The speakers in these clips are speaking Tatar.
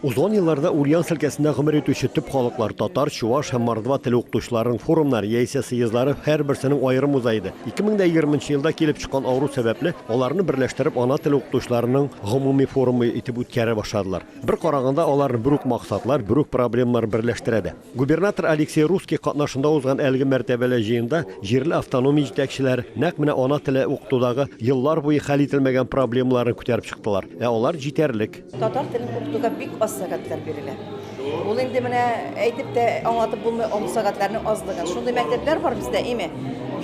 Узган елларда Ульяновск өлкәсендә гомер итүче төп халыклар, татар, чуваш һәм мордва теле укытучыларының форумнары яисә съездлары һәрберсенең аерым уза иде. 2020 нчы елда килеп чыккан авыру сәбәпле, аларны берләштереп ана теле укытучыларының гомуми форумы итеп үткәрә башладылар. Бер караганда, аларны бер үк максатлар, бер үк проблемалар берләштерә дә. Губернатор Алексей Русский катнашында узган әлеге мәртәбәле җыенда җирле автономия җитәкчеләре нәкъ менә ана теле укытудагы еллар буе хәл ителмәгән проблемаларны күтәреп чыктылар. Ә алар җитәрлек. Татар телен укытуда бик аз сәгатьләр бирелә. Ул инде менә әйтеп тә аңлатып булмый ом сәгатьләрнең азлыгын. Шундый мәктәпләр бар бездә, име?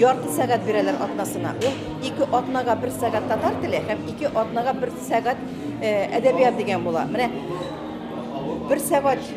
Ярты сәгать бирәләр атнасына. Ул ике атнага бер сәгать татар теле һәм ике атнага бер сәгать э, әдәбият дигән була. Менә бер сәгать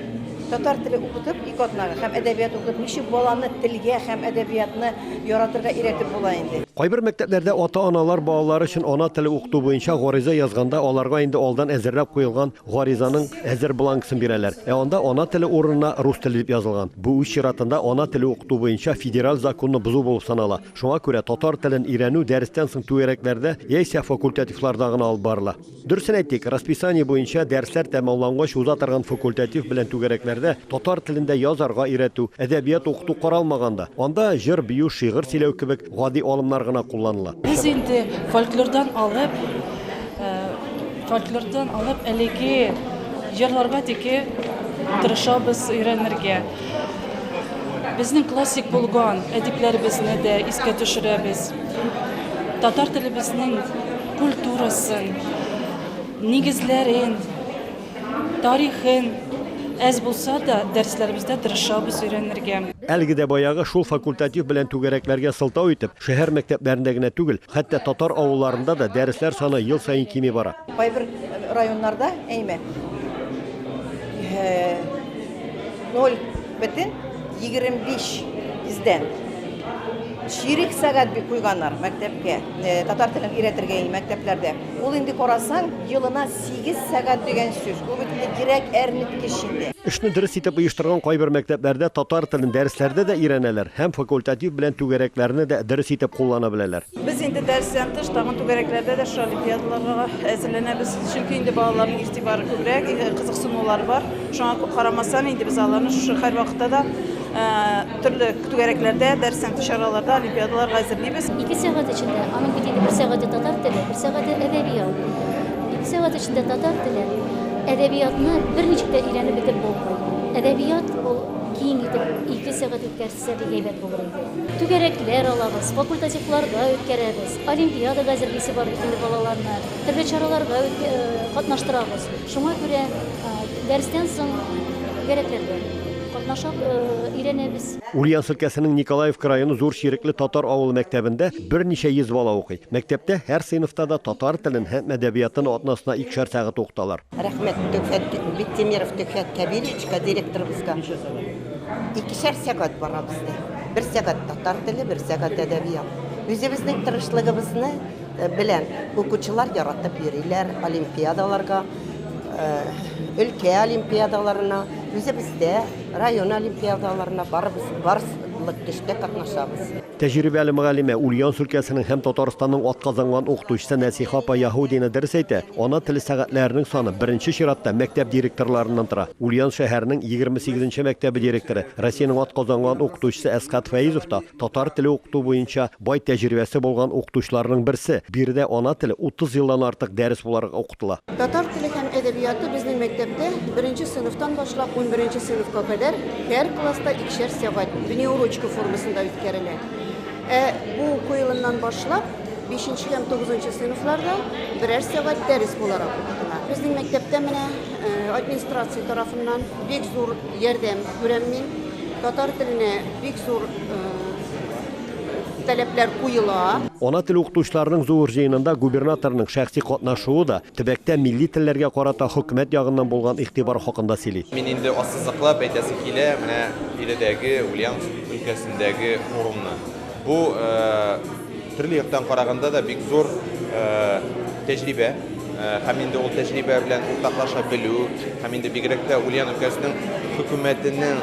татар теле укытып ике атнага һәм әдәбият укытып ничек баланы телгә һәм әдәбиятны яратырга өйрәтеп була инде. Кайбер мәктәпләрдә ата-аналар балалары өчен ана теле укыту буенча гариза язганда, аларга инде алдан әзерләп куелган гаризаның әзер бланксын бирәләр. Ә анда ана теле урынына рус теле дип язылган. Бу, үз чиратында, ана теле укыту буенча федераль законны бозу булып санала. Шуңа күрә татар телен өйрәнү дәрестән соң түгәрәкләрдә яисә факультативларда гына алып барыла. Дөресен әйтик, расписание буенча дәресләр тәмамлангач уза торган факультатив белән түгәрәкләрдә татар телендә язарга өйрәтү, әдәбият укыту каралмаган да. Анда җыр бию, шигырь сөйләү кебек гади алымнар гына кулланыла. Без инде фольклордан алып, фольклордан алып әлеге җырларга тике тырышабыз өйрәнергә. Безнең классик булган әдипләребезне дә искә төшерәбез. Татар телебезнең Культурасын, нигезләрен, тарихын әз булса да дәресләребездә тырышабыз өйрәнергә. Әлеге дә баягы шул факультатив белән түгәрәкләргә сылтау итеп, шәһәр мәктәпләрендә генә түгел, хәтта татар авылларында да дәресләр саны ел саен кими бара. Кайбер районнарда, әйме, Ноль бөтен егерме биш йөздән. Чирек сәгать бик куйганнар мәктәпкә, э, татар телен өйрәтергә инде мәктәпләрдә. Ул инде карасаң, елына сигез сәгать дигән сүз. Бу бит инде кирәк әрнеткеч инде. Эшне дөрес итеп оештырган кайбер мәктәпләрдә татар телен дәресләрдә дә өйрәнәләр һәм факультатив белән түгәрәкләрне дә дөрес итеп куллана беләләр. Без инде дәрестән тыш тагын түгәрәкләрдә дә шушы олимпиадаларга әзерләнәбез. Чөнки инде балаларның игътибары күбрәк, э, кызыксынулары бар. Шуңа кү- карамастан инде без аларны шушы һәрвакытта да э, төрле түгәрәкләрдә, дәрестән тыш чараларда олимпиадаларга әзерлибез. Ике сәгать эчендә, аның бит инде бер сәгате татар теле, бер сәгате әдәбият. Ике сәгать эчендә татар теле, әдәбиятны берничек тә өйрәнеп бетеп булмый. Әдәбият ул киң итеп ике сәгать үткәрсә, Нәрсә бик әйбәт булыр инде? Түгәрәкләр алабыз, факультативларда үткәрәбез, олимпиадага әзерлисе бар бит инде балаларны, төрле чараларда катнаштырабыз. Шуңа күрә дәрестән соң түгәрәкләрдә катнашып өйрәнәбез. Ульяновск өлкәсенең Николаевка районы Зур Чирекле татар авылы мәктәбендә берничә йөз бала укый. Мәктәптә һәр сыйныфта да татар телен һәм әдәбиятын атнасына икешәр сәгать укыталар. Рәхмәт Төхфәт Биктимиров Төхфәт Кәбиревичка директорыбызга. Икешәр сәгать бара бездә. Бер сәгать татар теле, бер сәгать әдәбият. Үзебезнең тырышлыгыбызны э, белән укучылар яратып йөриләр олимпиадаларга, э, өлкә олимпиадаларына, үзебездә район олимпиадаларына барыбыз барс- лык төштә катнашабыз. Тәҗрибәле мөгаллимә, Ульяновск өлкәсенең һәм Татарстанның атказанган укытучысы Нәсиха апа Яһудина дөрес әйтә, ана теле сәгатьләренең саны, беренче чиратта, мәктәп директорларыннан тора. Ульяновск шәһәренең егерме сигезенче мәктәбе директоры, Россиянең атказанган укытучысы Әсхат Фәизов та, татар теле укыту буенча бай тәҗрибәсе булган укытучыларның берсе, биредә ана теле 30 елдан артык дәрес буларак укытыла. кытла. Татар теле һәм әдәбияты безнең мәктәптә беренче сыйныфтан башлап унберенче сыйныфка кадәр һәр класста икешәр сәгать внеурочка формасында үткәрелә. Ә бу уку елыннан башлап бишенче һәм тугызынчы сыйныфларда берәр сәгать дәрес буларак укытыла. Безнең мәктәптә менә администрация тарафыннан бик зур ярдәм күрәм мин. Татар теленә бик зур таләпләр куела. Ана теле укытучыларының зур җыенында губернаторның шәхси катнашуы да төбәктә милли телләргә карата хөкүмәт ягыннан булган игътибар хакында сөйли. Мин инде ассызыклап әйтәсем килә менә биредәге Ульяновск өлкәсендәге форумны. Бу төрле яктан караганда да бик зур тәҗрибә. һәм инде ул тәҗрибә белән уртаклаша белү, һәм инде бигрәк тә Ульян өлкәсенең хөкүмәтенең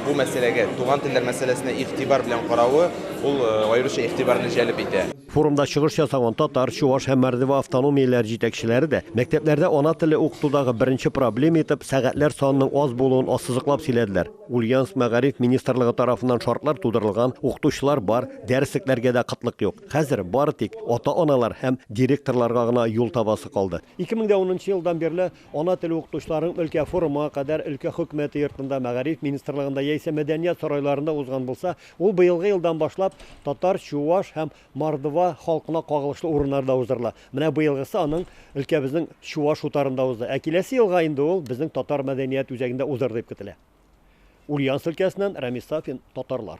бу мәсьәләгә, туган телләр мәсьәләсенә игътибар белән каравы, ул аеруча игътибарны җәлеп итә. Форумда чыгыш ясаган татар, чуваш һәм мордва автономияләре җитәкчеләре дә мәктәпләрдә ана теле укытудагы беренче проблема итеп сәгатьләр санының аз булуын ассызыклап сөйләделәр. Ульяновск мәгариф министрлыгы тарафыннан шартлар тудырылган, укытучылар бар, дәреслекләргә дә кытлык юк. Хәзер бары тик ата-аналар һәм директорларга гына юл табасы калды. 2010 нчы елдан бирле Ана теле укытучыларының өлкә форумы кадәр өлкә Хөкүмәте йортында, Мәгариф министрлыгында яисә Мәдәният сарайларында узган булса, ул быелгы елдан башлап татар, чуаш һәм мордва халкына кагылышлы урыннарда уздырыла. Менә быелгысы аның өлкәбезнең Чуаш утарында узды. Ә киләсе елга инде ул безнең татар мәдәният үзәгендә узыр дип көтелә. Ульяновск өлкәсеннән Рәмис Сафин, Татарлар.